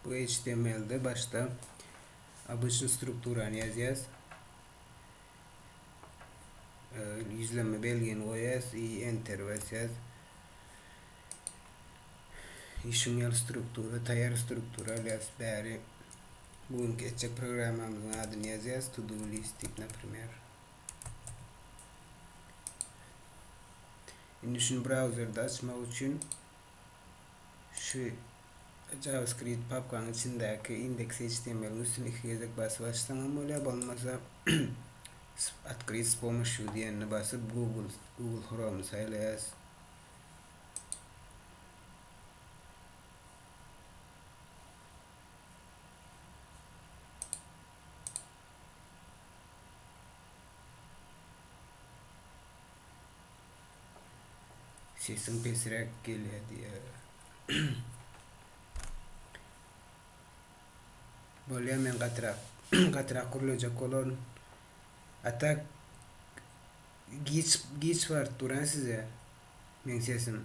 Bu HTML-de başda obýçni strukturany ýazýas. Gizlenme belgini goýas, i enter basýas. Işiň ýaly struktura, taýýar struktura alýas bäri. Bu günki etjek programmamyzyň adyny ýazýas, to do list diýip, naprimer. Indi şuny brauzerde açmak üçin şu JavaScript papkaň içindäki indeksi HTML-iň üstüni iki gezek basyp açsaň hem bolýar, bolmasa Otkryt s pomoşýu diýenini basyp Google Google Chrome-y saýlaýas. Sesiň pesräk gelýär diýýär. Bolýa men gatyrak gatyrak gürlejek bolaryn. A tak giç giç baryp dur size. Meň sesim.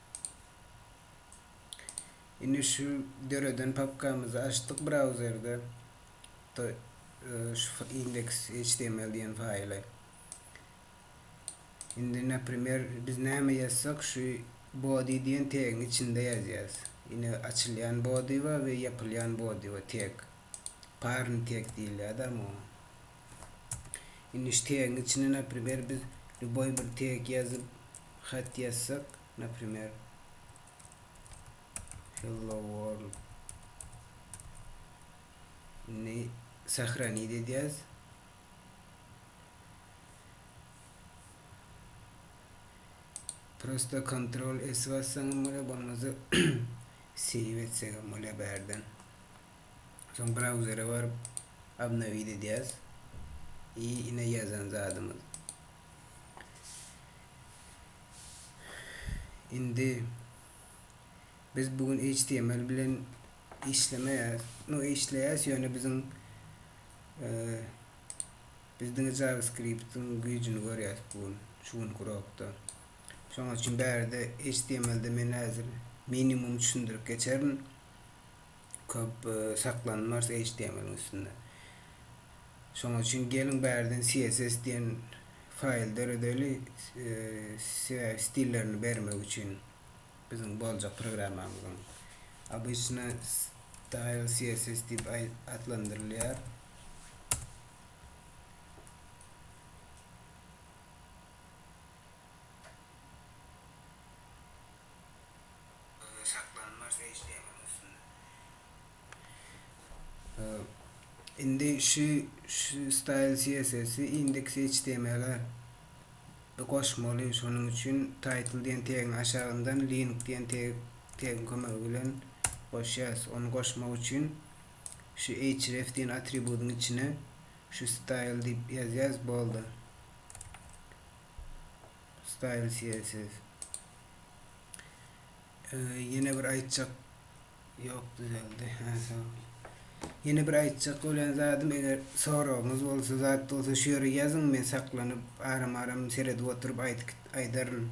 Indi şu döreden papkamyzy açdyk brauzerde. To şu index html diýen faýly. Indi naprimer biz näme ýazsak şu body diýen tegiň içinde ýazýas. Ine açylýan body we ýapylýan body we tag. Parn tag diýilýärdi ama. Indi şu tegiň içine naprimer biz lýuboý bir teg ýazyp hat ýazsak naprimer hello world indi sahranit edýäs prosta kontrol s bassaňam bolýar bolmasa save etsegem bolýar bärden Soň brauzere baryp obnowit edýäs i ine ýazan zadymyz. Indi biz bu gün html bilen işlemeýäs. No işleýäs ýöne biziň biz diňe JavaScript-iň güýjüni görýäs bu gün şu günki urokda. Şonuň üçin bärde html-de men häzir minimum düşündirip geçerin. Köp saklanmars HTML-iň üstünde. Şonuň üçin geliň bärden CSS diýen faýl döredeli sebäbi stillerini bermek üçin biziň boljak programmamyzyň. Obyçny style CSS diýip atlandyrylýar. Saklanma režimiň üstünde. Indi şu style CSS-i index HTML-e goşmaly. Şonuň üçin title diýen tegiň aşagyndan link diýen tegiň kömegi bilen goşýarys. Ony goşmak üçin şu href diýen atributyň içine şu style diýip ýazýarys. Boldy. Style CSS. Ýene bir aýtjak ýok düzeldi. Hä, sag bol. Ýene bir aýtjak bolan zadym, eger soragyňyz bolsa, zat bolsa şu ýere ýazyň, men saklanyp, aram-aram seredip oturyp aýdyp aýdaryn.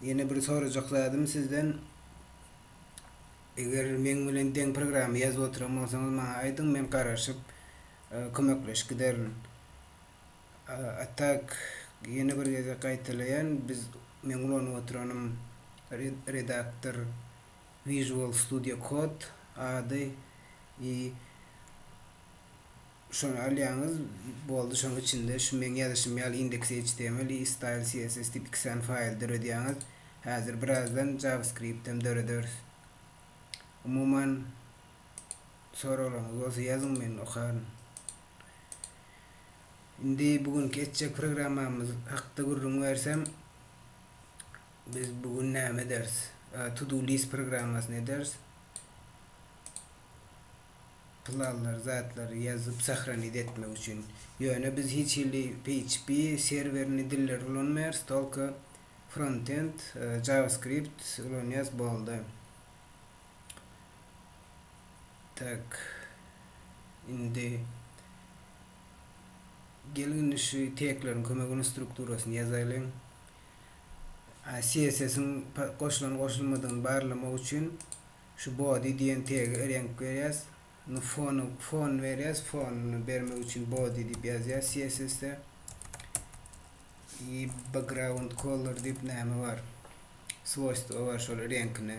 Ýene bir sorajak zadym sizden, eger meň bilen deň programma ýazyp oturan bolsaňyz maňa aýdyň, men garaşyp kömekleşik giderin. Atak ýene bir gezek gaýtalaýan biz meň ulanyp otyranym redaktor visual studio code ady i şony alýaňyz boldy şoň içinde şu meň ýazyşym ýaly index html i style css diýip iki sany faýl döredýäňiz häzir birazdan javascript hem dörederis umuman soraglaryňyz bolsa ýazyň men okaryn. Indi bu günki etjek programmamyz hakda gürrüň bersem, biz bu gün näme ederis? To do list programmasyny ederis. Planlary, zatlary ýazyp sahraniz etmek üçin. Ýöne biz hiç hili PHP serwerini dilleri ulanmaýarys, tolko frontend, JavaScript ulanýarys, boldy. Tak. Indi Geliň indi şu tegleriň kömegini strukturasyny ýazaýlyň. CSS-iň goşulan goşulmadygyny barlamak üçin şu body diýen tege reňk berýäs. Indi fony fon berýäs. Fonyny bermek üçin body diýip ýazýas CSS-de. I background color diýip näme bar? Swoýstwa bar şol reňkini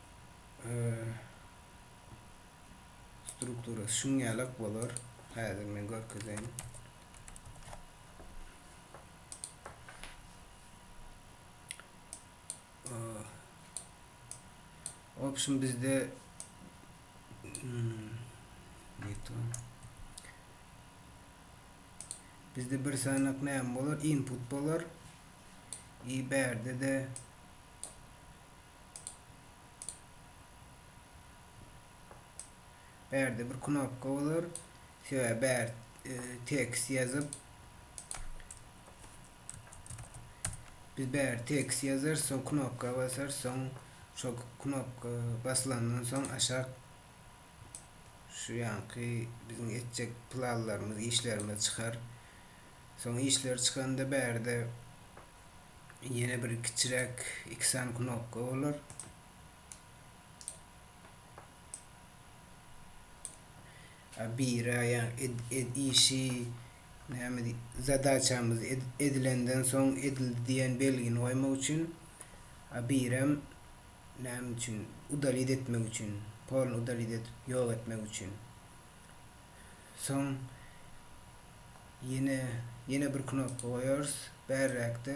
struktura şun ýalak bolar. Häzir men görkezeýin. Option bizde hmm, bizde bir sanak ne bolar? Input bolar. I berde de Bärde bir knopka bolar. Söýä bär e, tekst ýazyp biz bär tekst ýazarys, soň knopka basarys, soň şo knopka basylandan soň aşak şu ýanky biziň etjek planlarymyz, işlerimiz çykar. Soň işler çykanda bärde ýene bir kiçiräk iki sany knopka bolar. Bira ýa-ni ed, işi näme diý, zadaçamyz edilenden soň edildi diýen belgini goýmak üçin birem näme üçin udalit etmek üçin, polny udalit edip ýok etmek üçin. Soň ýene ýene bir knopka goýarys. Bärräkde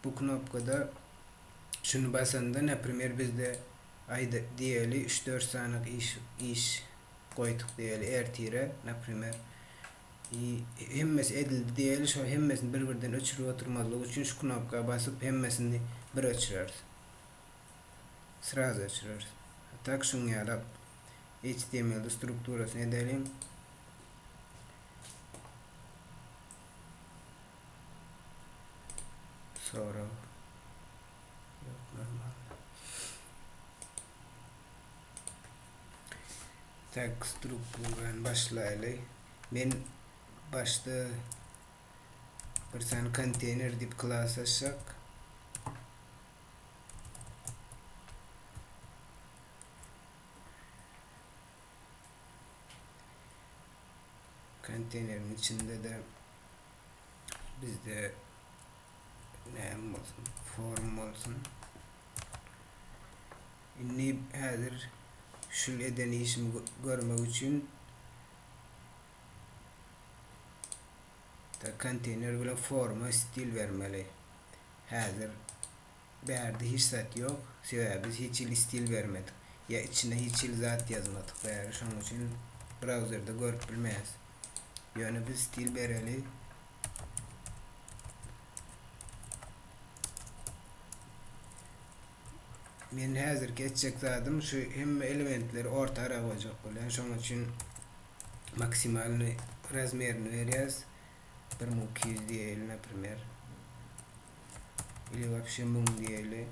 bu knopkada şuny basanda naprimer bizde aýda diýeli üç dört sanak iş iş goýduk diýeli ertire naprimer i hemmesi edildi diýeli şo hemmesini bir birden öçürip oturmazlyk üçin şu knopka basyp hemmesini bir öçürers. Sraz öçürers. A tak şuň ýalap HTML-de strukturasyny edeliň. Sorag. Tak strukturany başlaýly. Men başda bir sany konteýner diýip klas açjak. Konteýneriň içinde-de bizde näme bolsun? Form bolsun. Indi häzir şul eden işimi görmek üçin konteyner bilen forma stil bermeli. Häzir bärde hiç zat ýok. Sebäbi biz hiç hili stil bermedik. Ýa içine hiç hili zat ýazmadyk bäri şonuň üçin brauzerde görüp bilmeýäs. Ýöne biz stil bereli. Men häzirki etjek zadym şu hemme elementleri orta ara goýjak bolýan. Şonuň üçin maksimalny razmerini berýäs. Bir müň iki ýüz diýeli naprimer. Ili wapşe müň diýeli.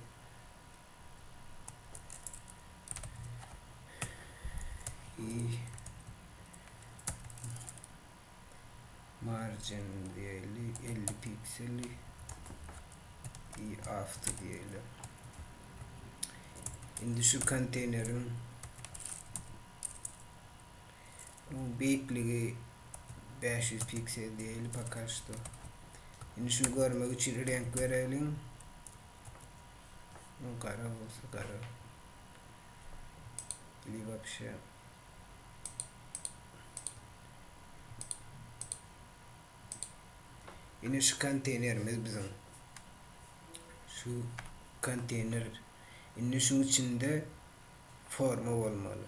I margin diýeli 50 pikseli i after diýeli. Indi şu konteýneriň Onuň beýikligi bäş ýüz piksel diýeli poka şto. Indi şuny görmek üçin reňk bereliň. Onuň gara bolsa gara. Ili wapşe. Indi şu konteynerimiz biziň. Şu konteyner. Indi şuň içinde forma bolmaly.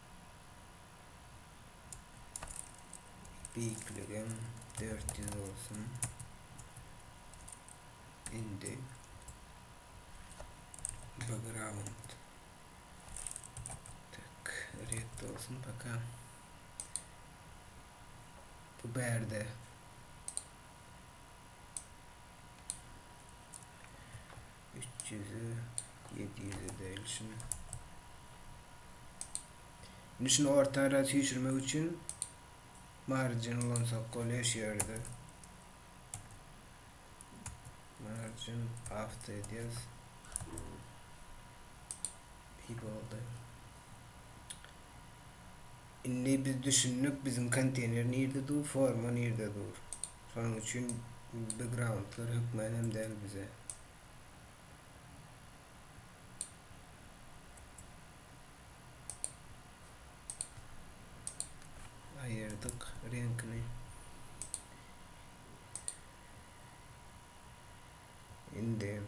Beýikligim dört ýüz bolsun. Indi background tak red olsun paka bu bärde Üç ýüze, ýedi ýüze berilsin. Indi şunu orta ara süýşürmek üçin margin ulansak bolýar şu ýerde. Margin afta edýäs. İyi boldy. Indi biz düşündik biziň konteýner nirde dur forma nirde dur. Şonuň üçin begroundlar hökman hem däl bize. Aýyrdyk reňkini. Indi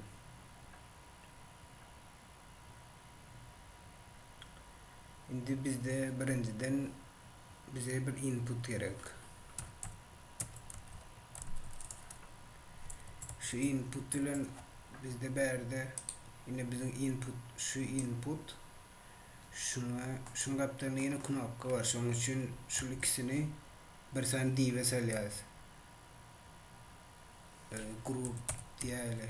Indi bizde birinjiden bize bir input gerek. Şu input bilen bizde bärde ine biziň input şu input şuna şuň gapdalynda ýene knopka bar. Şoň üçin şu ikisini bir sany dibe salýarys. E, grup diýeli.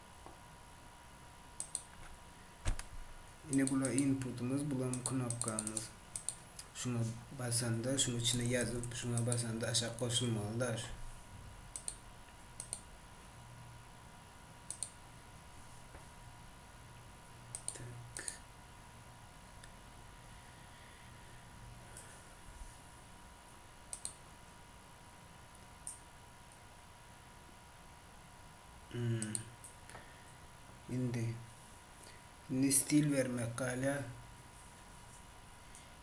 Ine bula inputymyz, bulam knopkamyz. Şuna basanda, şuň içine ýazyp, şuna basanda aşak goşulmaly daş. Indi. Indi stil bermek galýar.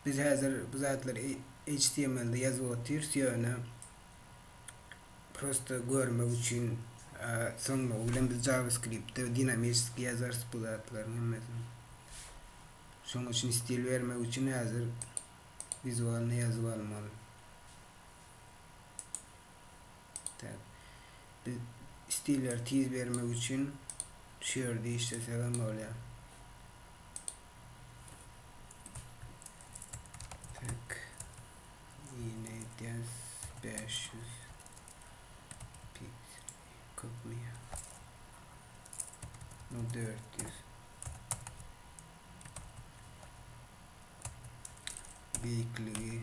Biz häzir bu zatlary HTML-de ýazyp otyrys, ýöne prosta görmek üçin soňmagy bilen biz JavaScript-de dinamiski ýazarys bu zatlaryň hemmesini. Şonuň üçin stil bermek üçin häzir wizualny ýazyp almaly. Tab. Biz stilleri tiz bermek üçin şu ýerde işlesek hem bolýar. Tek ýene edýäs 500 piksel köpmi ýa? No 400 beýikligi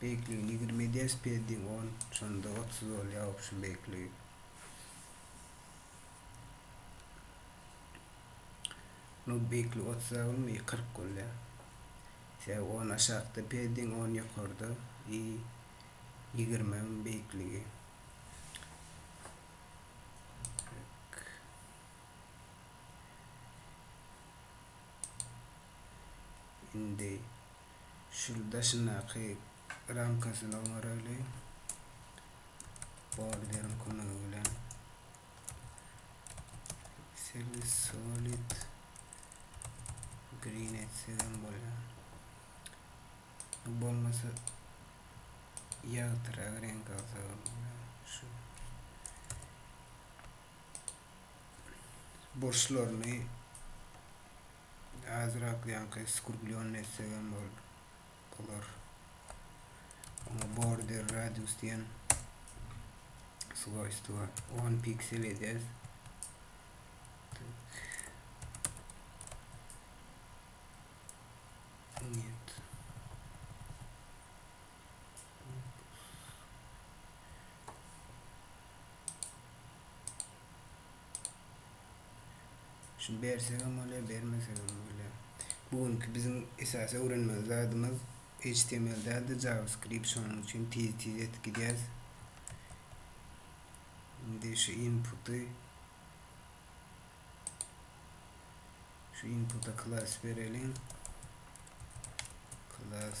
Beýikligi ýigrimi ders ped diň on şonda otuz bolýa obşin beýikligi. Munuň beýikligi otuz a bolma i kyrk bolýa. Sebäbi on aşakda ped diň on ýokarda i ýigrimi a munuň beýikligi. Indi Şul daşyndaky ramkasyny oňarayly. Borderiň kömegi bilen. Seli solid green etsek hem bolýar. Bolmasa ýagtyrak renk alsak hem bolýar. Şu burçlaryny Azrak ýaňky skurgulýon etsegem bol bolar. Oňa border radius diýen swojstwa 10 piksel edýäs. Şuny bersegem bolýar, bermesegem bolýar. Bu günki biziň esasy öwrenmeli zadymyz HTML däl-de JavaScript şonuň üçin tiz-tiz edip gidýäs. Indi şu inputy şu inputa klass bereliň. Klass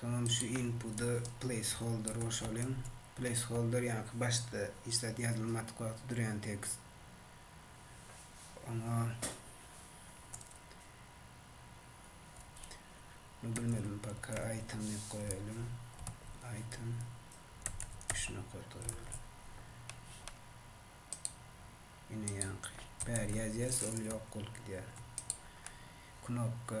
Soňam şu inputy placeholder goşalyň. Placeholder ýaňky başda hiç zat ýazylmadyk wagty durýan tekst. Oňa bilmedim paka item diýip goýalyň. Item üç nokat goýalyň. Ine ýaňky bäri ýazýas ol ýok bolup gidýär. Knopka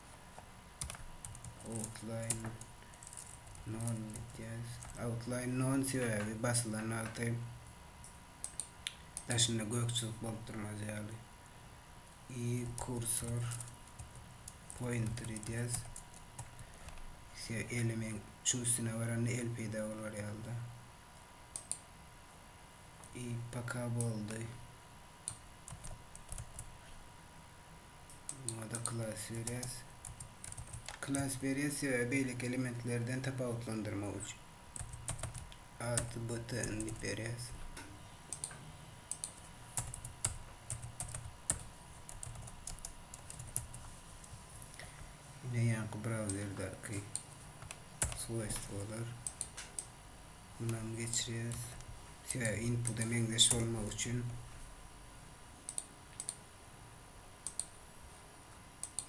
Outline non diýýäs. Outline non sebäbi basylan wagty daşynda gökçülik bolup durmaz ýaly. I kursor pointer diýýäs. Se elimin şu üstüne baranda el peýda bolar ýaly-da. I paka boldy. Ada klas berýäs. Klas berýäs we beýleki elementlerden tapawutlandyrmak üçin. Ad button diýip berýäs. Ine ýaňky brauzerdäki swojstwolar. Mundan geçirýäs. Sebäbi inpuda meňzeş bolmak üçin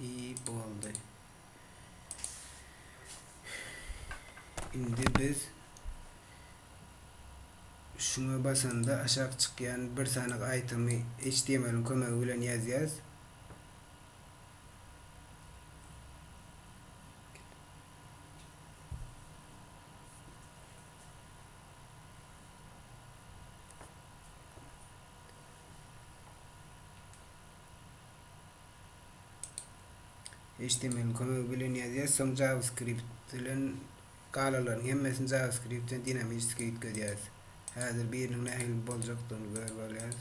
I boldy. Indi biz şuna basanda aşak çykýan bir sanyk aýtamy HTML-iň kömegi bilen ýazýas. HTML-iň kömegi bilen ýazýas, soň JavaScript bilen galalaryň hemmesini JavaScript-den dinamiski üýtgedýäs. Häzir biriniň nähili boljakdygyny görüp alýas.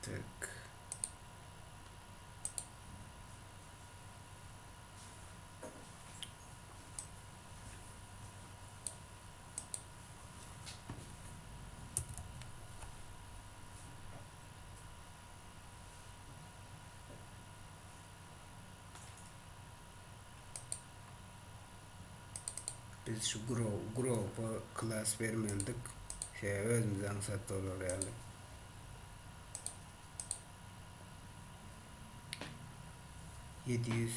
Tak. Biz şu grow grow'a klass bermelidik. Şeýle özümize aňsat bolar ýaly. Ýedi ýüz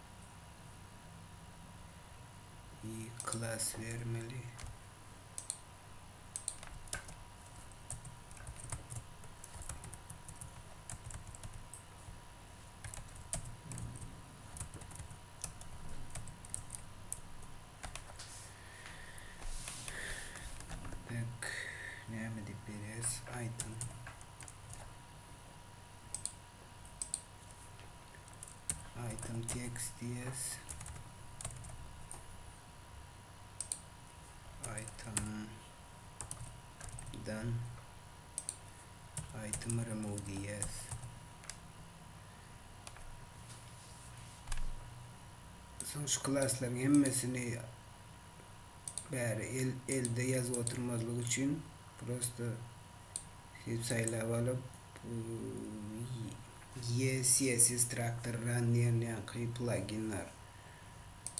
klass bermeli. Bek, näme diýip berýäs? Item. item text diýeris. item dan item remove diýeris. Soň şu klaslaryň hemmesini bäri el elde ýazyp oturmazlyk üçin prosta sep saýlap alyp ye css traktor run diýilýänki plagin bar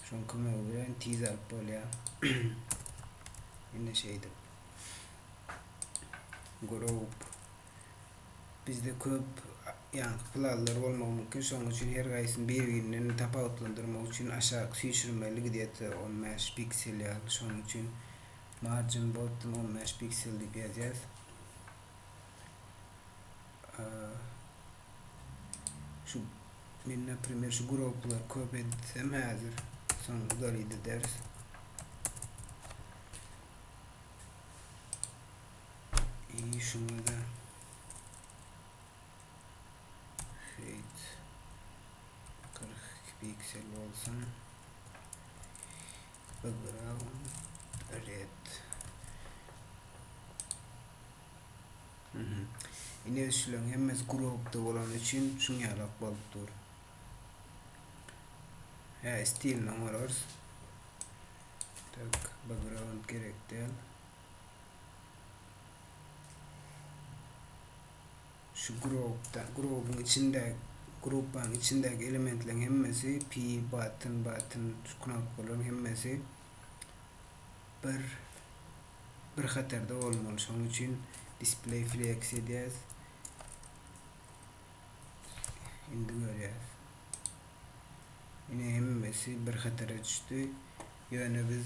şoň kömegi bilen tiz alyp bolýar ine şeýdip group Bizde köp ýanky pylazlar bolmagy mümkin, şonuň üçin her gaýsyny bir-birinden tapawutlandyrmak üçin aşak süýşürmeli gdýeto on bäş piksel ýaly, şonuň üçin margin bottom on bäş piksel diýip ýazýas. Şu men naprimer şu groplar köp etsem häzir soň udalit ederis. İyi şunda da Fade 42 piksel olsun Background Red Ine üçlüň hemmesi gropda bolan üçin şun ýalak bolup dur. Hä, stilini oňararys. Tak, background gerek däl. Şu gropda, grobuň içinde, grupaň içindäki elementleriň hemmesi pi, button, button, şu knopkalaryň hemmesi bir bir hatarda bolmaly. Şonuň üçin display flex edýäs. Indi görýäs. Ine hemmesi bir hatara düşdi. Ýöne biz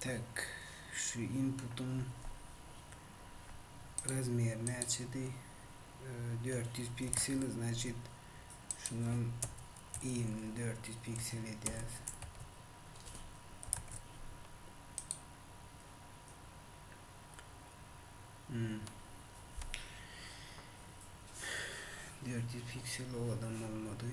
Tak, şu inputyň razmeri näçedi? Dört ýüz piksel, znaçit, şunam yny dört ýüz piksel edýäs. Hmm. Dört ýüz piksel o adam bolmady.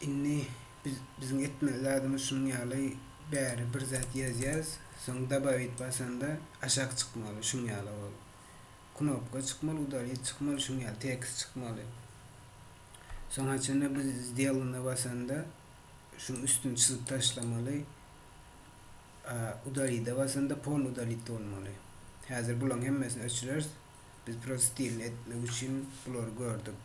Indi biz biziň etmeli zadymyz şunuň ýaly bäri bir zat ýazýas, soň dabawit basanda aşak çykmaly şuň ýaly ol. Knopka çykmaly, udalit çykmaly şuň ýaly tekst çykmaly. Soň haçanda biz zdelana basanda şuň üstüni çyzyp taşlamaly. Udalida basanda pol udalit bolmaly. Häzir bulaň hemmesini öçürers. Biz prost diýen etmek üçin bulary gördük.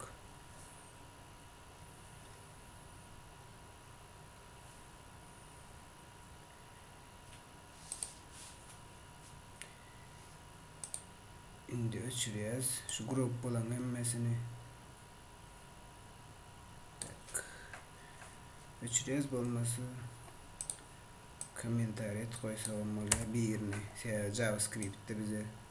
Indi öçürýäs. Şu grup bolan hemmesini. Tak. Öçürýäs bolmasa kommentariýa goýsagam bolýar birini. Sebäbi JavaScript-de bize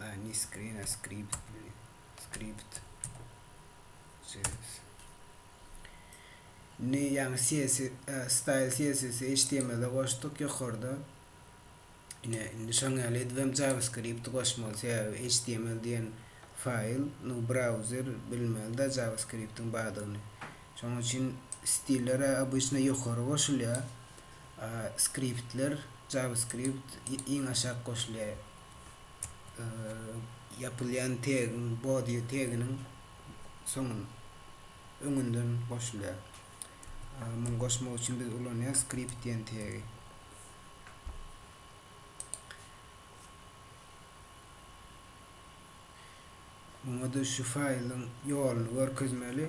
Line screen a script script Ne yani CSS e, style CSS HTML-de goşduk ýokarda. Ine indi şoň ýaly edip hem JavaScript goşmaly. Sebäbi HTML diýen faýl, nu browser bilmeli-de JavaScript-iň bardygyny. Şoň üçin stiller obýsna ýokary goşulýar. Skriptler, JavaScript, iň aşak goşulýar. Ýapylýan tegiň, body teginiň soňun, öňünden goşulýar. Muny goşmak üçin biz ulanýar skript diýen tegi. Muňa-da şu faýlyň ýoluny görkezmeli.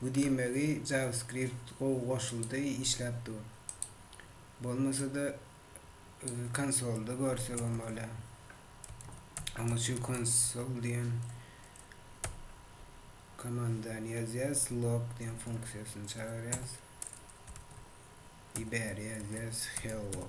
Bu diýmegi JavaScript gowy goşuldy işläp dur. Bolmasada konsolda görsegem bolýa. Onuň üçin konsol diýen komandany ýazýas, log diýen funksiýasyny çagyrýas. I bäri ýazýas hello.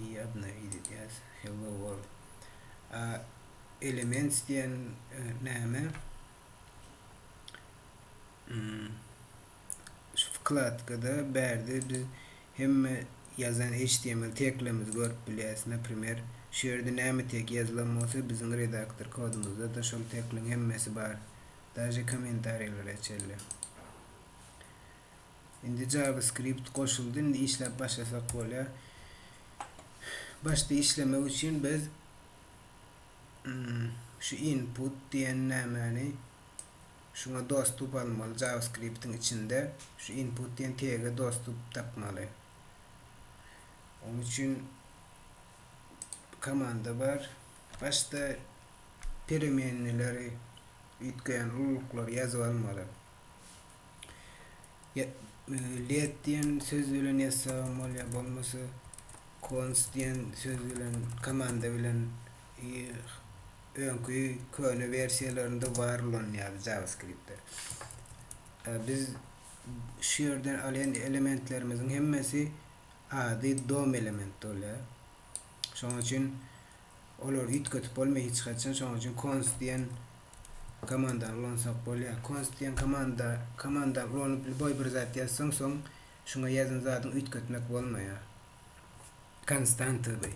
I adna ididýas Hello world. A elements diýen näme? Şu wkladkada bärde biz hemme ýazan html teklerimizi görüp bilýäs. Naprimer, şu ýerde näme tek ýazylan bolsa, biziň redaktor kodumyzda-da şol tekliň hemmesi bar. Daže kommentariýlara çenli. Indi JavaScript goşuldy. Indi işläp başlasak bolýar. Başda işlemek üçin biz şu input diýen nämäni şuňa dostup almaly. JavaScript-iň içinde şu input diýen tege dostup tapmaly. Onuň üçin komanda bar. Başda peremenneleri üýtgeýän ululyklary ýazyp almaly. Ýa let diýen söz bilen ýazsagam bolýar, bolmasa Kons diýen söz bilen, komanda bilen öňki köne wersiýalarynda bar ulanýar JavaScript-de. Biz şu ýerden alýan elementlerimiziň hemmesi ady dom elementi bolýar. Şonuň üçin olary üýtgetip bolmaýar hiç haçan. Şonuň üçin Konst diýen komandany ulansak bolýar. Konst diýen komanda komanda ulanyp lýuboý bir zat ýazsaň soň şuňa ýazan zadyňy üýtgetmek bolmaýar. Konstanta by.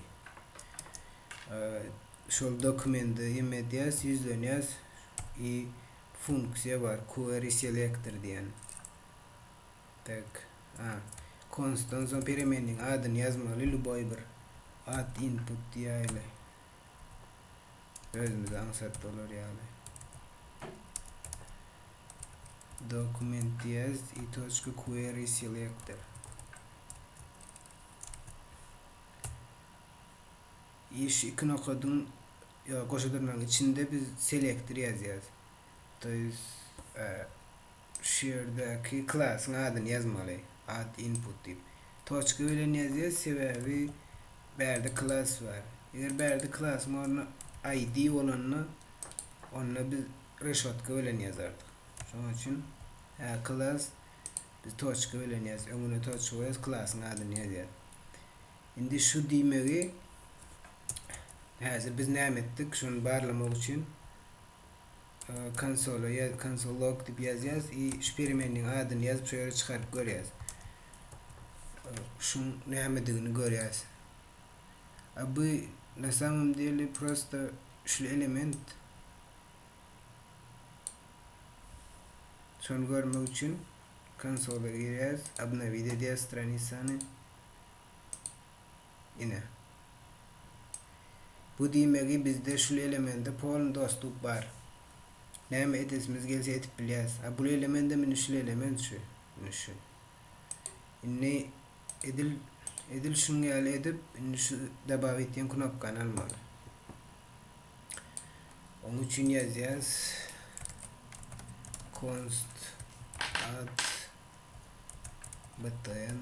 Şol dokumende ýeme edýäs, ýüzlenýäs i funksiýa bar query selector diýen. Tak. A. Konstan soň peremenniň adyny ýazmaly luboý bir at input diýäýli. Özümize aňsat bolar ýaly. Dokument diýýäs i toçka query selektor. I şu iki nokadyň ýa goşadyrnagyň içinde biz selektor ýazýas. To ýes a. Şu ýerdäki klasyň adyny ýazmaly, add input diýip. Toçka bilen ýazýas, sebäbi bärde klas bar. Eger bärde klasyň orny ID bolanda, onda biz reşotka bilen ýazardyk. Şonuň üçin hä klas biz toçka bilen ýaz, öňüne toçka goýýas, klasyň adyny ýazýas. Indi şu diýmegi häzir biz näme etdik, şony barlamak üçin konsola ýaz konsol log diýip ýazýas i şu peremenniň adyny ýazyp şu ýere çykaryp görýäs şuň nämedigini görýäs a bu na samom deli prosta şul element şony görmek üçin konsola girýäs obnowid edýäs stranisany Ine. Bu diýmegi bizde şul elemende polny dostluk bar. Näme edesimiz gelse edip bilýäs. A bul elemendem indi şul element şu. Indi şu. Indi edil edil şuň ýaly edip indi şu dabawit diýen knopkany almaly. Oň üçin ýazýas const add btn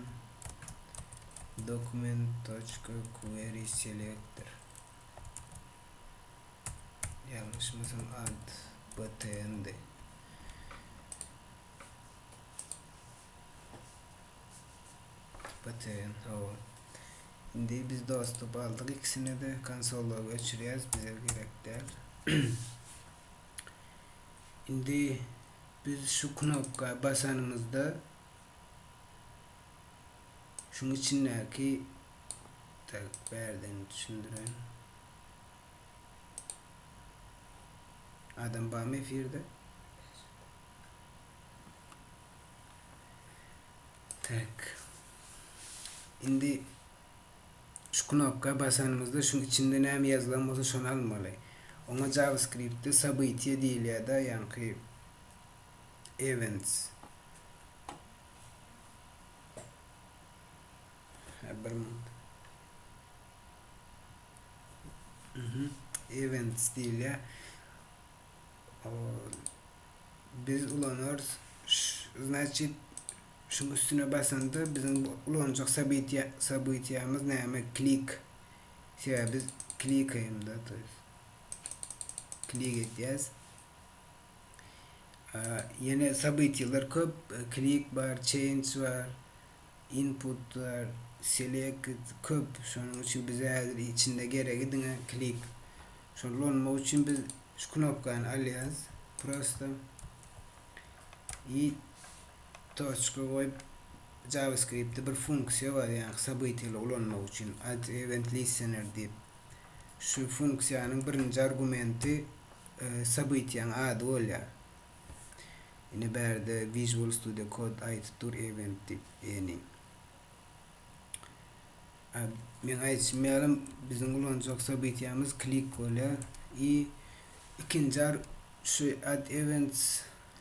document.queryselectdir. Ýalňyşmasam ad btn-di. Btn, hawa. Indi biz dostup aldyk ikisini-de konsola göçürýäris, bize gerek däl. Indi Biz şu knopka basanymyzda şuň içindäki tak bärden düşündiren adam barmy efirde? Tak. Indi Şu knopka basanymyzda şuň içinde näme ýazylan bolsa şony almaly. Oňa JavaScriptde Sabytyýa diýilýärda ýaňky Events. Hä bir minut. Mhm. Events diýilýär. O biz ulanarys. Znaçit Şuň üstüne basanda biziň bu ulanjak sabytyýamyz näme klik sebäbi biz klikaýmda to ýest klik edýäs. Ýene sabytyýalar köp klik bar change bar input bar select köp şonuň üçin bize häzir içinde geregi diňe klik. Şony ulanmak üçin biz şu knopkany alýas prosta i Toçka goýup JavaScriptde bir funksiýa bar ýaňky sabytiýaly ulanmak üçin alt event listener diýip. Şu funksiýanyň birinji argumenti sabytiýaň ady bolýar. Ine bärde Visual Studio Code aýdyp dur event diýip ýeni. Meň aýdyşym ýalam biziň ulanjak sobytýamyz klik bolýar i ikinji ar şu add events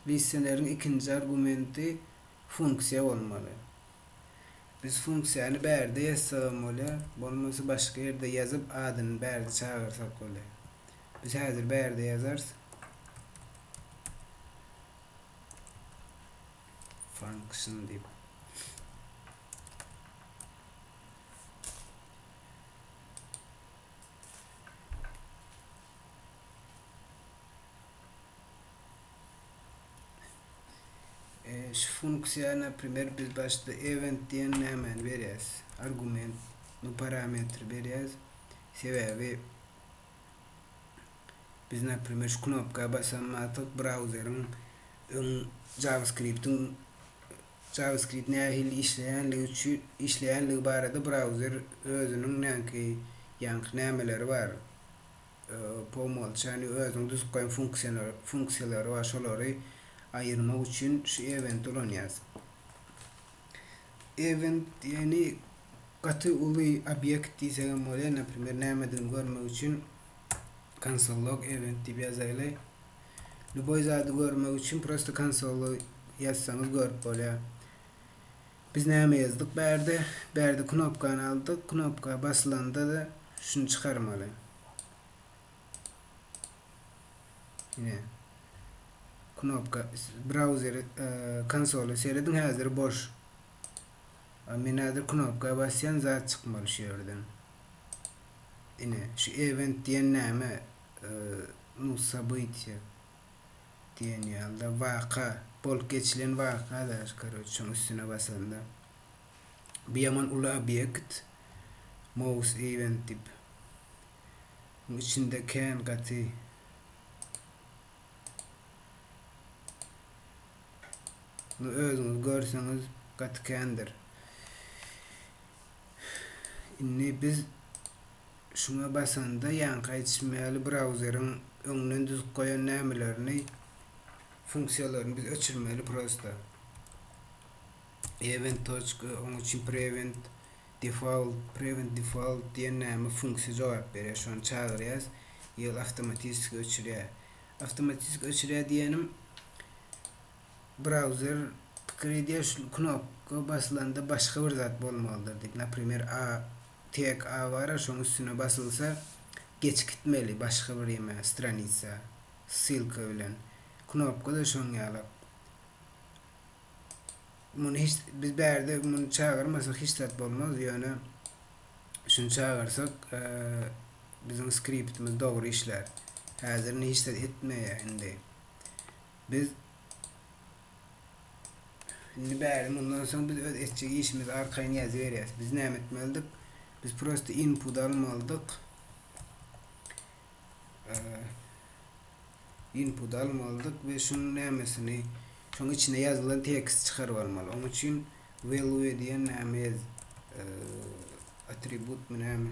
listeleriň ikinji argumenti funksiýa bolmaly. Biz funksiýany bärde ýazsagam bolýar, bolmasa başga ýerde ýazyp adyny bärde çagyrsak bolýar. Biz häzir bärde ýazarys. function diýip şu funksiýa naprimýer biz başda event diýen nämäni berýäs argument bu parametri berýäs sebäbi Biz naprimer şu knopka basammatyk brauzeriň öň JavaScript-iň JavaScript nähili işleýänligi üçi işleýänligi barada brauzer özüniň näki ýaňky nämeleri bar po umolçanýu özüň düzüp goýan funksiýalar funksiýalary bar şolary aýyrmak üçin şu eventy ulanýas. Event ýagny gaty uly obýekt diýsegem bolýar naprimer nämedigini görmek üçin Konsollog event diýip ýazaýly. Lýuboý zady görmek üçin prosta konsoly ýazsaňyz görüp bolýar. Biz näme ýazdyk bärde? Bärde knopkany aldyk. Knopka basylanda-da şuny çykarmaly. Ine. Knopka brauzeri e, konsoly serediň häzir boş. Men häzir knopka basýan zat çykmaly şu ýerden. Ine, şu event diýen näme? Nu, sobytýe diýen ýaly-da, waka, bolup geçilen waka-da, koroç, şoň üstüne basanda. Bu ýaman uly obýekt, mouse event diýip. Muň içinde kän gaty. Nu, özüňiz görseňiz, gaty kändir. Indi biz şuňa basanda ýaňky aýdyşym ýaly brauzeriň öňden düzüp goýan nämelerini funksiýalaryny biz öçürmeli prosta. Event toçka oň üçin prevent default prevent default diýen näme funksiýa jogap berýär şony çagyrýas ýyl awtomatiki öçürýär. Awtomatiki öçürýär diýenim Brauzer pikiri diýýär, şul knopka basylanda başga bir zat bolmalydyr diýip, naprimer A, tag A bara, şoň üstüne basylsa geçip gitmeli başga bir ýeme, stranitsa, ssylka bilen. Knopka-da şoň ýalak. Muny hiç, biz bärde muny çagyrmasak hiç zat bolmaz, ýöne şuny çagyrsak biziň skriptimiz dogry işlär. Häzir indi hiç zat etmeýär indi. Biz Indi bäri mundan soň biz öz etjek işimizi arkaýyn ýazyberýäs. Biz näme etmelidik? Biz prosta input almalydyk. Input almalydyk we şunuň nämesini şoň içine ýazylan tekst çykaryp almaly. Oň üçin value diýen näme ýaz atributmy näme?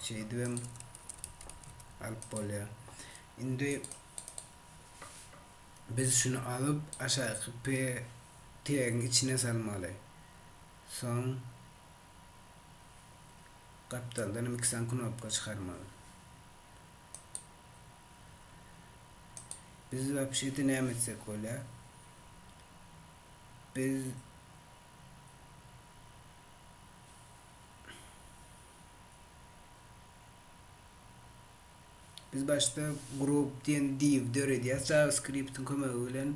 şeýdibem alyp bolýar. Indi biz şuny alyp aşaky p tegiň içine salmaly. Soň gapdaldan hem iki sany knopka çykarmaly. Biz wapşedi näme etsek bolýar? Biz Biz başda group diýen div döredýäs JavaScript-iň kömegi bilen.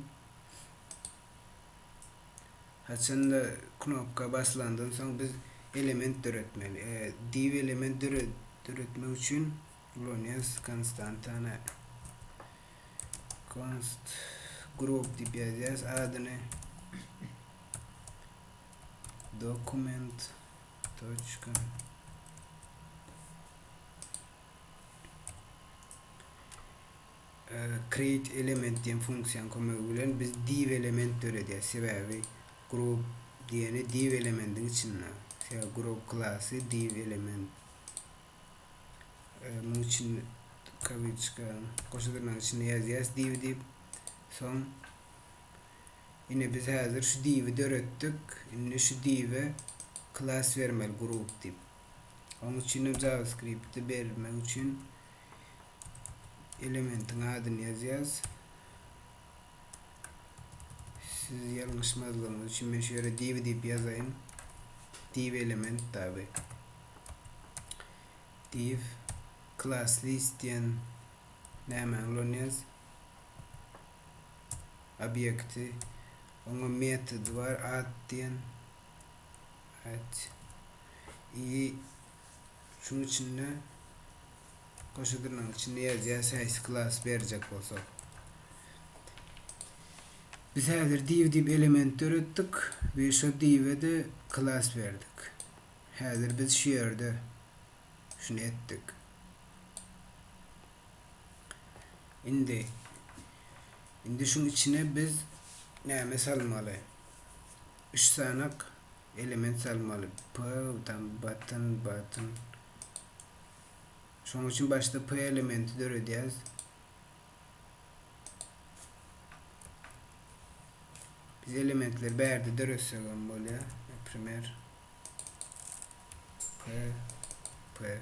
Haçanda knopka basylandan soň biz element döretmeli. E, div element döretmek üçin ulanýarys konstantany. Const group diýip ýazýarys adyny. Dokument toçka create element diýen funksiýanyň kömegi bilen biz div element döredýäs. Sebäbi group diýeni div elemendiň içinde. Sebäbi group klasy div element. Munuň üçin kawiçka goşa dyrnagyň içinde ýazýas div diýip. Soň Ine biz häzir şu diwi döretdik. Indi şu diwe klass bermeli group diýip. Onuň üçinem JavaScript-de bermek üçin elementiň adyny ýazýas. Siz ýalňyşmazlygyňyz üçin men şu ýere diwi diýip ýazaýyn. Div element daby. Div klass list diýen nämäni ulanyas. obýekti, oňa metody bar, ad diýen. Ad. I şuň içinde goşa dyrnagyň içinde ýazýas haýsy klasy berjek bolsak. Biz häzir div diýip element döretdik we şo diwe-de klas berdik. Häzir biz şu ýerde şuny etdik. Indi indi şuň içine biz näme salmaly? Üç sanak element salmaly. P tam button button. Şoň üçin başda P elementi döredýäs. Biz elementleri bärde döretsek hem bolýar. Primer P P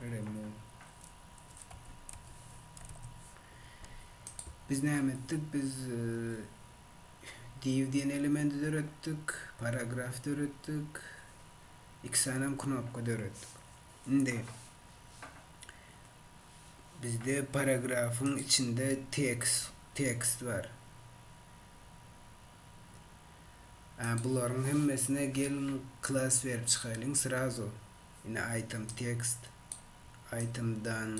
Remove. Biz näme etdik? Biz div diýen elementi döretdik, paragraf döretdik, iki sany knopka döretdik. Indi bizde paragrafyň içinde tekst tekst bar. Ä bularyň hemmesine gelin klas berip çykaýlyň srazu ine item text item done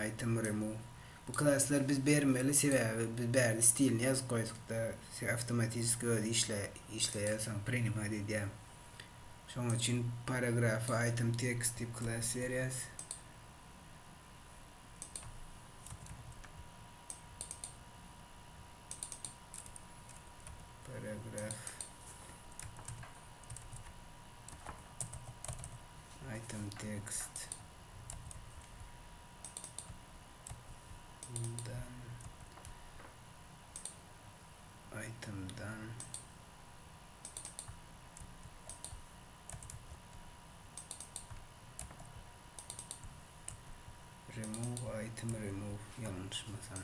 item remove bu klaslary biz bermeli sebäbi biz bärde stilini ýazyp goýdukda se awtomatiski özi işleýär soň prinimat edýär şoň üçin paragrafa item text diýip klas berýäs. Paragraf Item text Bundan Itemdan Remove item remove yanlışmasam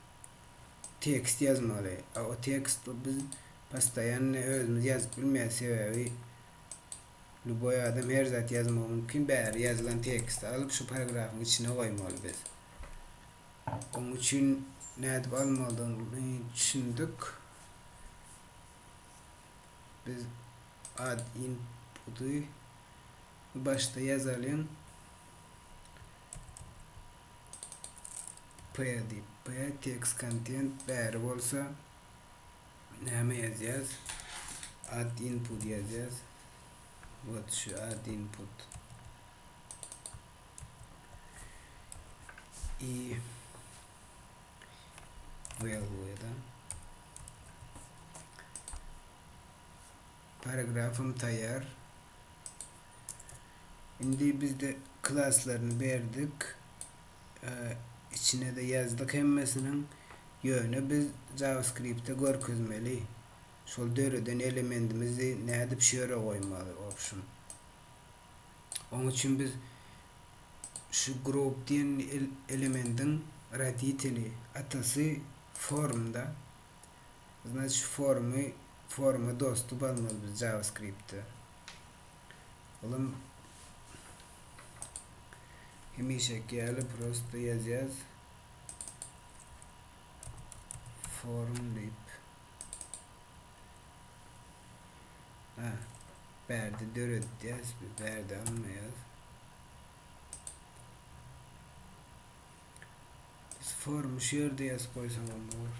tekst ýazmaly. A o tekst bu biz postoýanny özümiz ýazyp bilmeýäs, sebäbi lýuboý adam her zat ýazmagy mümkin. Bäri ýazylan teksti alyp şu paragrafyň içine goýmaly biz. Onuň üçin nädip almalydygyny düşündik. Biz ad inputy başda ýazalyň. P diýip, P text content bäri bolsa näme ýazýas? Add input ýazýas. Wot şu add input. I value da. Paragrafym taýýar. Indi bizde klaslaryny berdik. Içine-de ýazdyk hemmesiniň. Ýöne biz JavaScript-de görkezmeli. Şol döreden elementimizi nädip şu ýere goýmaly, option. Oň üçin biz şu group diýen elemendiň roditeli, atasy formda. Znaçy formy, forma dostup almaly biz JavaScript-de. Olam hemişeki ýaly prosto ýazýas. Forum diýip. Ha, bärde döredýäs, bärde almaýas. Biz forum şu ýerde ýazyp goýsaň onda bor.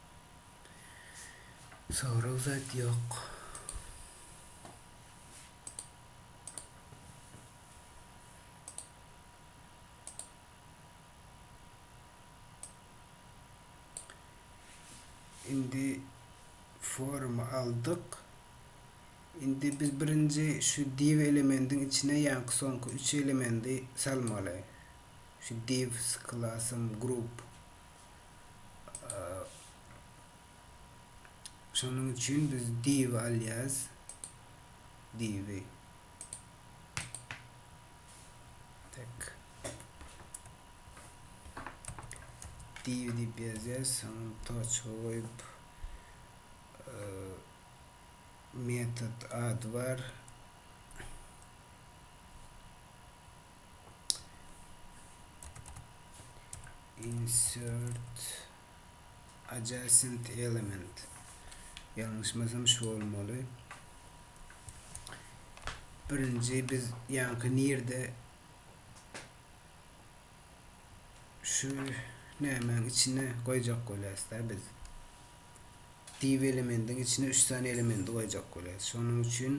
Sorag zat ýok. Indi forumy aldyk. Indi biz birinji şu div elemendiň içine ýaňky soňky üç elemendi salmaly. Şu divs, klasym, group. Şonuň üçin biz div alýas. Divi. Tak. Div dip ýazýas, soň toçka goýup metod ady bar. insert adjacent element ýalňyşmasam şu bolmaly birinji biz ýaňky nirde şu nämäň içine goýjak bolýas da biz div elemendiň içine 3 sany elementi goýjak bolýas şonuň üçin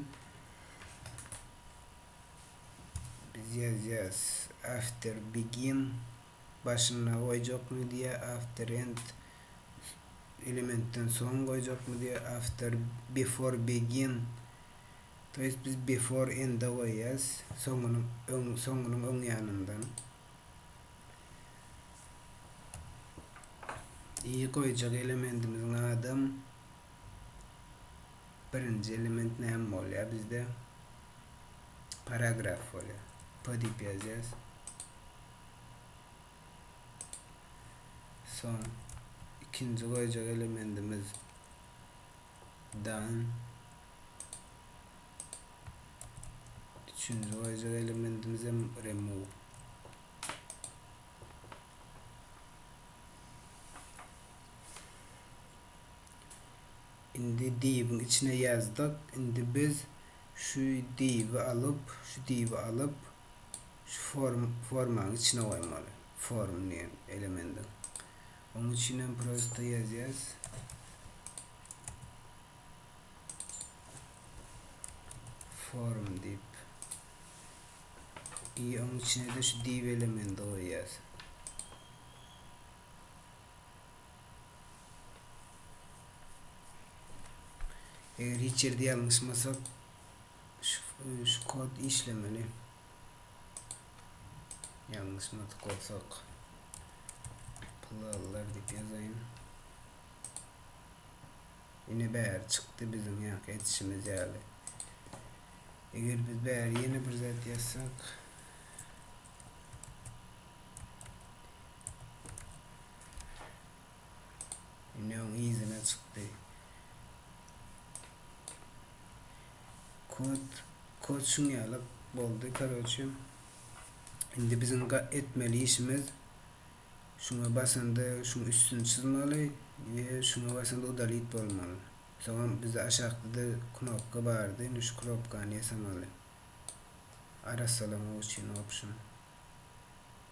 Biz ýazýas. After begin başynda goýjakmy diýýä, after end elementden soň goýjakmy diýýä, after before begin. To ýest biz before end-e goýýas, soňunyň öň soňunyň öň ýanyndan. I goýjak elementimiziň adym. Birinji element näme bolýar bizde? Paragraf bolýar. P diýip ýazýarys. Soň ikinji goýjak elementimiz dan üçünji goýjak elementimiz hem remove Indi diýibiň içine ýazdyk. Indi biz şu diýibi alyp, şu diýibi alyp, şu form, formanyň içine goýmaly. Form diýen elemendiň. Onuň üçin hem prosto ýazýas. Form diýip. I onuň içine-de şu diýib elemendi goýýas. Eger hiç ýerde ýalňyşmasak, şu kod işlemeli. Ýalňyşmadyk bolsak, pullar diýip ýazaýyn. Ine bäri çykdy biziň ýaňky etişimiz ýaly. Eger biz bäri ýene bir zat ýazsak, Indi öň yzyna çykdy. Kod, kod şun ýaly boldy. Karoçi, indi biziň etmeli işimiz şuna basanda şuň üstüni çyzmaly we şuna basanda udalit bolmaly. Soňam bizde aşakda-da knopka bardy, indi şu knopkany ýasamaly. Arassalamak üçin option.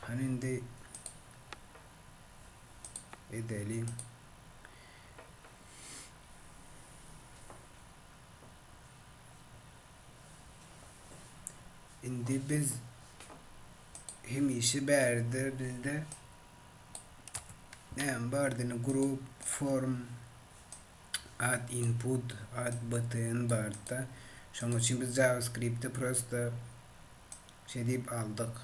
Hany indi edeliň. Indi biz hemişe bärde bizde näme bardyny grup form Add input, add btn barda. Şonuň üçin biz JavaScript-i prosta şe diýip aldyk.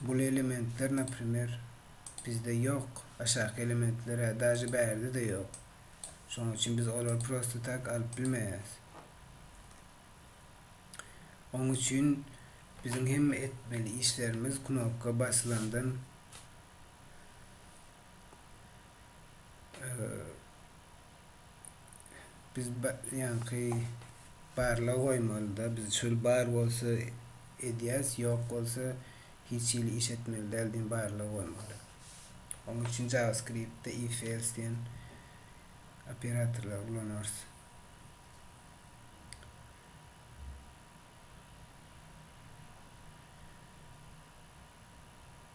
Bul elementler, naprimer, bizde ýok. Aşaky elementler, hä, daže bärde-de ýok. Şonuň üçin biz olary prosta tak alyp bilmeýäris. Oň üçin biziň hemme etmeli işlerimiz knopka basylandan Biz ýaňky barlag goýmalyda biz çöl bar bolsa edýäs, ýok bolsa hiç hili iş etmeli däl diýen barlag goýmaly. Oň üçin JavaScript-de if else diýen operatorlary ulanarys.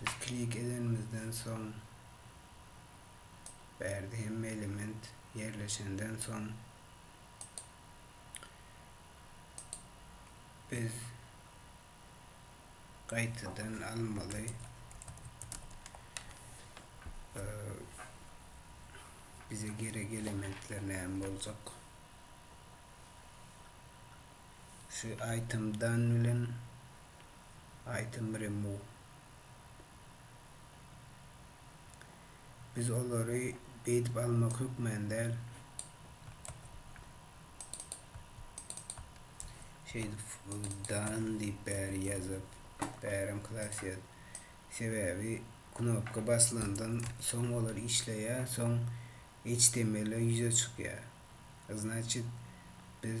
Biz klik edenimizden soň bärde hemme element ýerleşenden soň biz gaýtadan almaly bize gerek elementler näme boljak Şu aýtym dan bilen aýtym remove biz olary beýdip almak hökmän däl şeýdip dan diýip bäri ýazyp bärem klasýat sebäbi knopka baslandan soň olar işleýär soň html ýüze çykýar znaçit biz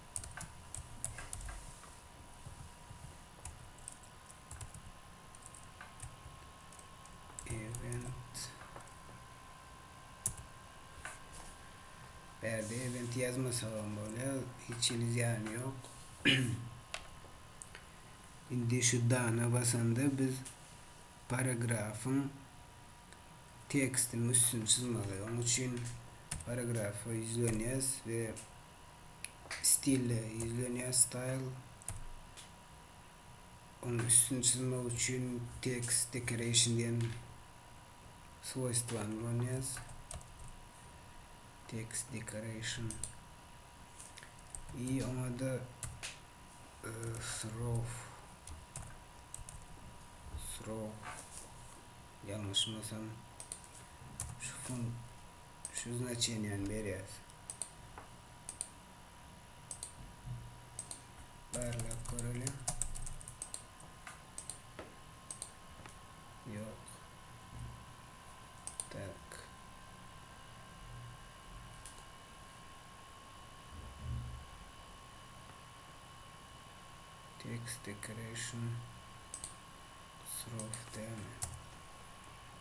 Bärde event ýazmasagam bolýar, hiç hili zyýany ýok. Indi şu dana basanda biz paragrafyň tekstini üstüni çyzmaly. Onuň üçin paragrafa ýüzlenýäs we stile ýüzlenýär, style. Onuň üstüni çyzmak üçin text decoration diýen swoýstwany ulanýarys. Text decoration. I oňa-da e, srof srof ýalňyşmasam şu fun şu znaçeniýany berýäs. Barlap göreliň. Ýok. Tak. Text decoration. Srof däl.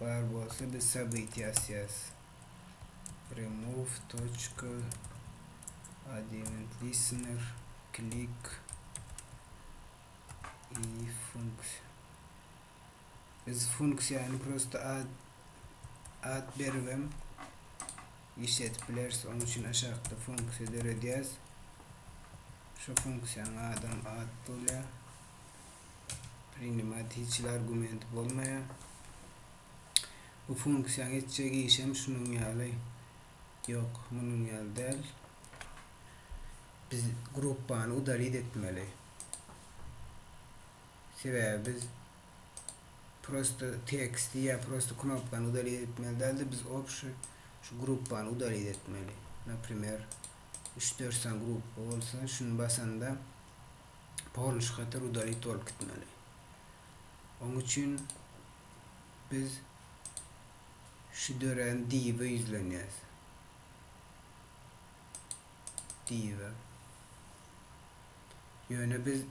Bar bolsa biz sabyty asýas. Remove toçka adevent listener klik i funksiýa. Biz funksiýany prosta ad ad beribem işledip bileris. Onuň üçin aşakda funksiýa döredýäs. Şu funksiýanyň adam ad bolýar. Prinymat hiç hili argument bolmaýar. Bu funksiýaň etjek işem şunuň ýaly. Ýok, munuň ýaly däl. Biz gruppany udalit etmeli. Sebäbi biz prosta teksti ýa prosta knopkany udalit etmeli däldi. Biz obşy şu gruppany udalit etmeli. Naprimer, 3-4 sany gruppa bolsa, şuny basanda Polish hatar udarit bolup gitmeli. Oň üçin biz şu dörän diýibe ýüzlenýäs. Diýibe. Ýöne biz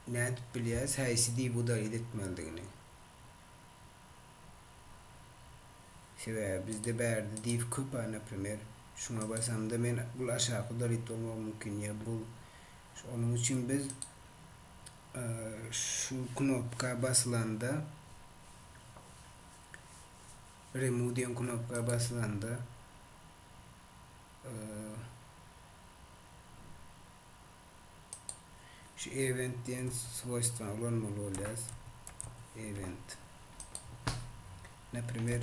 nädip bilýäs häýsi diýip udarit etmelidigini? Sebäbi bizde bärde diýip köp-ä, naprimer, şuňa basamda men bul aşaky udarit bolmagy mümkin ýa bul Şonuň üçin biz şu knopka basylanda, Remove diýen knopka basylanda şu Event diýen swoýstwany ulanmaly bolýarys. Event. Naprimer,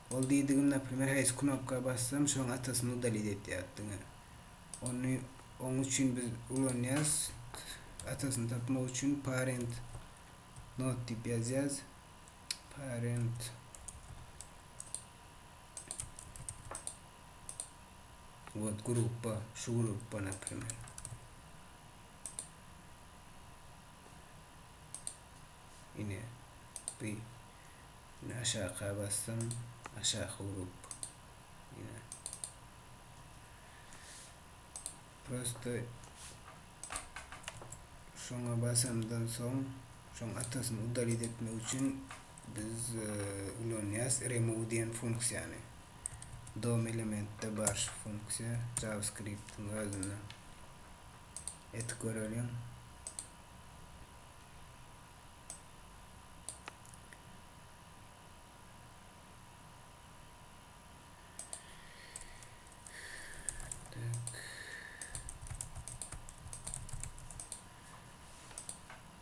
Ol diýdigim naprimer haýsy knopka bassam şoň atasyny udalit etýär diňe. Ony oň üçin biz ulanýas atasyny tapmak üçin parent not diýip ýazýas. Parent Wot gruppa şu gruppa naprimer. Ine. Bi. Indi aşaka basdym. Aşak urup. Ýa. Prosta şoňa basandan soň şoň atasyny udalit etmek üçin biz e, ulanýas remove diýen funksiýany. DOM elementde bar şu funksiýa JavaScript-iň özünde. Edip göreliň.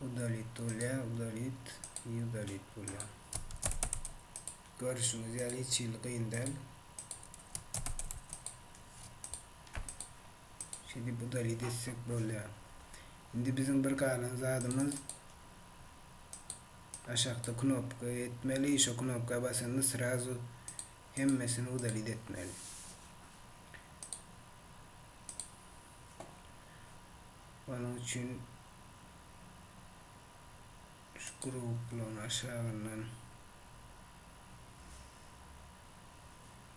Udalit bolýa, udalit, i udalit bolýa. Görüşüňiz ýaly hiç hili gyn däl. Şeýdip udaly geçsek bolýar. Indi biziň bir galan zadymyz aşakda knopka etmeli. Şo knopka basanda srazu hemmesini udaly etmeli. Onuň üçin şu guruklaryň aşagyndan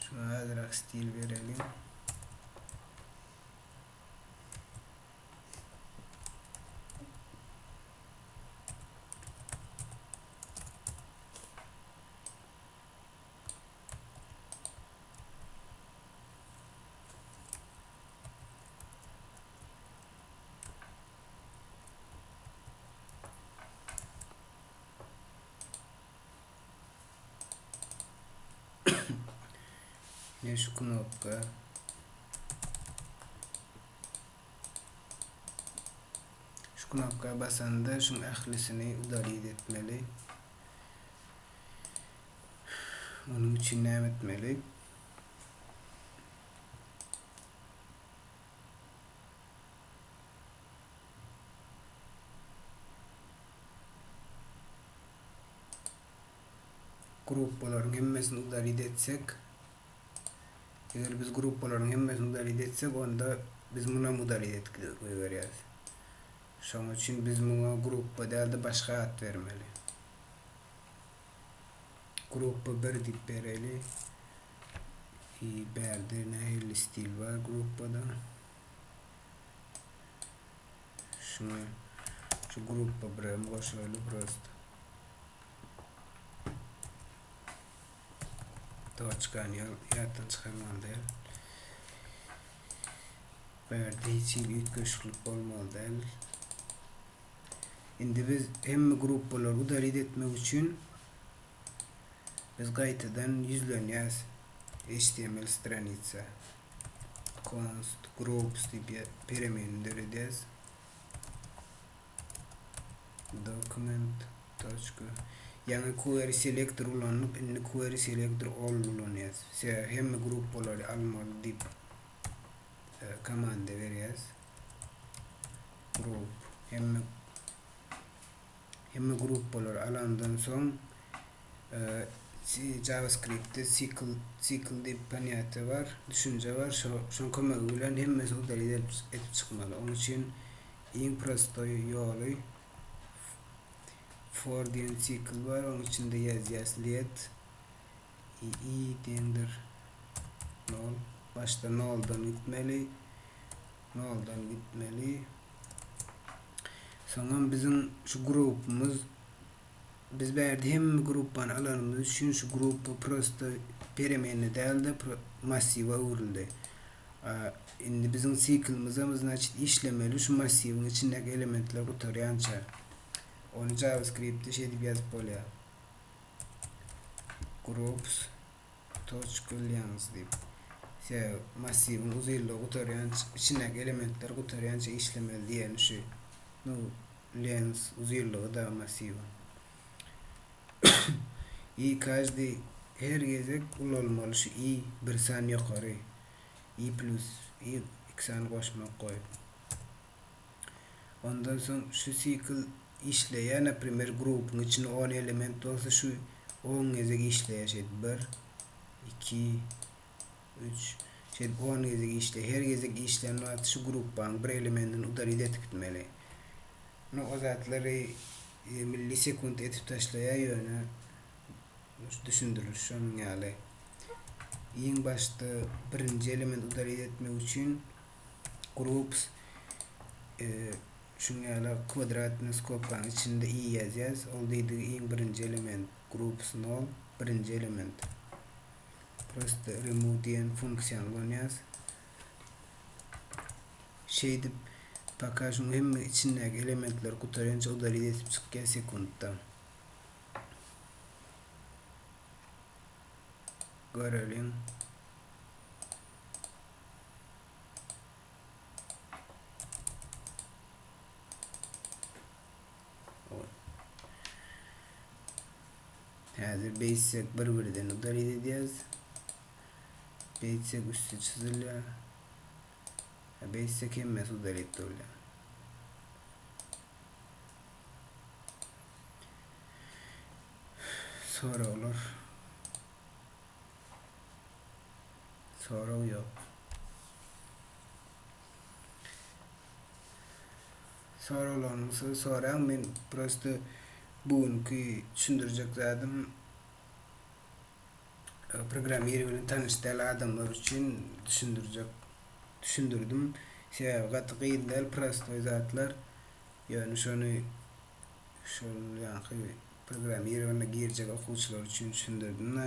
Şuna azrak stil bereliň. Ýa şu knopka şu knopka basanda şuň ählisini udalit etmeli. Onuň üçin näme etmeli? Gruppalaryň hemmesini udalit etsek, eger biz gruppalaryň hemmesini udalit etsek, onda biz munam udalit et goýberýäris. Şonuň üçin biz muňa gruppa däl-de başga at bermeli. Gruppa bir diýip bereýli. I bärde nähili stil bar gruppada? Şuna şu gruppa bir hem goşaýly prosta. Doçkany ýatdan çykarmaly däl. Bärde hiç hili üýtgeşiklik bolmaly däl. Indi biz hemme gruppalary udalit etmek üçin biz gaýtadan ýüzlenýäs html stranitsa const groups diýip peremenini döredýäs document ýaňy query selector ulanyp indi query selector all ulanýas sebäbi hemme gruppalary almaly diýip komanda berýäs Group hemme hemme grupbalary alandan soň JavaScript-de sikl sikl diýip panýatiýa bar, düşünje bar. Şo şoň kömegi bilen hemmesi udaly edip edip çykmaly. Oň üçin iň prostoý ýoly for diýen sikl bar. Oň içinde ýazýas let i deňdir nol başda noldan gitmeli noldan gitmeli soňam biziň şu grupumuz biz bärde hemme gruppany alanymyz üçin şu gruppa prosta peremenni dälde massiwa öwrüldi indi biziň siklymyzam значит işlemeli şu massiwiň içindäki elementler gutarýança ony javaskriptde şeýdip ýazyp bolýar Groups Toçglyans diýip. Şeýle massiwiň uzynlygy gutarýanç, içindäki elementler gutarýança işlemeli diýeni şu. Nu lens uzynlygy-da massiwiň. I każdy her gezek ulalmaly şu i bir san ýokary. I plus i iki sany goşmak goýup. Ondan soň şu sikl işleýär naprimer grupuň içinde on element bolsa şu on gezek işleýär şeýdip bir iki üç şeýdip on gezek işleýär her gezek işlän wagty şu grupanyň bir elementini udalit edip gitmeli no o zatlary e, millisekund edip taşlaýar ýöne düşündiriliş şonuň ýaly iň başda birinji element udalit etmek üçin groups e, şuň ýaly kwadratny skobkanyň içinde i ýazýas. Ol diýdigi iň birinji element groups nol, birinji element. Prosta remove diýen funksiýany ulanýas. Şeýdip, paka şuň hemme içindäki elementler gutarýança udalit edip çykýar sekuntda. Göreliň. Häzir beýtsek bir-birden udaryz edýäs. Beýtsek üsti çyzylýar. Beýtsek hemmesi udaryp durýar. Soraglar. Sorag ýok. Soraglaryňyzy soraň men prosta bu günki düşündirjek zadym programmir bilen tanyş däl adamlar üçin düşündirjek düşündirdim sebäbi gaty gyn däl prostoý zatlar ýöne şony şol ýaňky programmirowanda girjek okuwçylar üçin düşündirdim-de